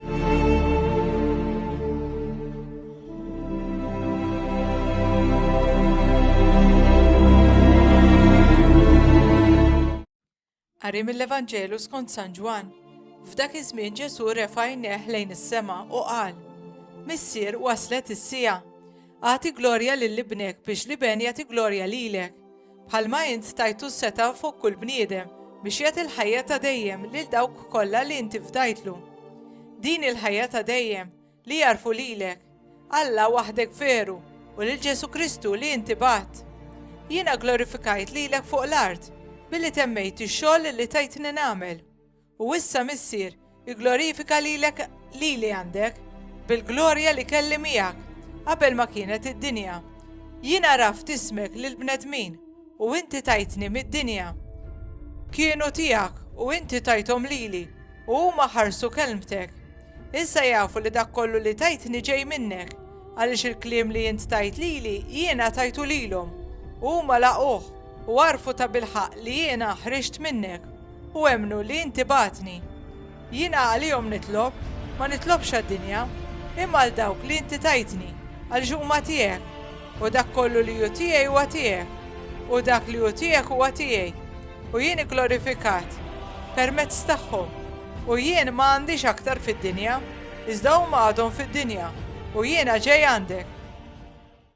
Qari mill-Evanġelu skont San Ġwann. F'dak iż-żmien Ġesù refa' jneħ lejn is-sema u qal: Missier waslet is-sija. Agħti glorja lil ibnek biex l-iben jagħti glorja lilek. bħalma int tajtu s-setgħa fuq kull bniedem biex jagħti l-ħajja ta' dejjem lil dawk kollha li inti fdajtlu. Din il-ħajja ta' dejjem li jarfu lilek, Alla waħdek veru u lil Ġesu Kristu li inti bat. Jiena glorifikajt lilek fuq l-art billi temmejt ix-xogħol li tajtni nagħmel U issa, Missier, igglorifika lilek lili għandek, bil-glorja li kelli miegħek, qabel ma kienet id-dinja. Jien għaraft ismek lill-bnedmin, u inti tajtni mid-dinja. Kienu tiegħek, u inti tajthom lili, u huma ħarsu kelmtek. Issa jafu li dak kollu li tajtni ġej minnek, għaliex il-kliem li int tajt lili jiena tajtu lilhom, u huma laquh, u għarfu tabilħaqq li jiena ħriġt minnek. u emmnu li inti bagħtni. Jiena għalihom nitlob, ma nitlobx għad-dinja, imma għal dawk li inti tajtni, għaliex huma tiegħek, u dak kollu li hu tiegħi huwa tiegħek, u dak li hu tiegħek huwa tiegħi, u jien igglorifikat permezz tagħhom. U jien ma għandix aktar fid-dinja, iżda huma għadhom fid-dinja, u jiena ġej għandek.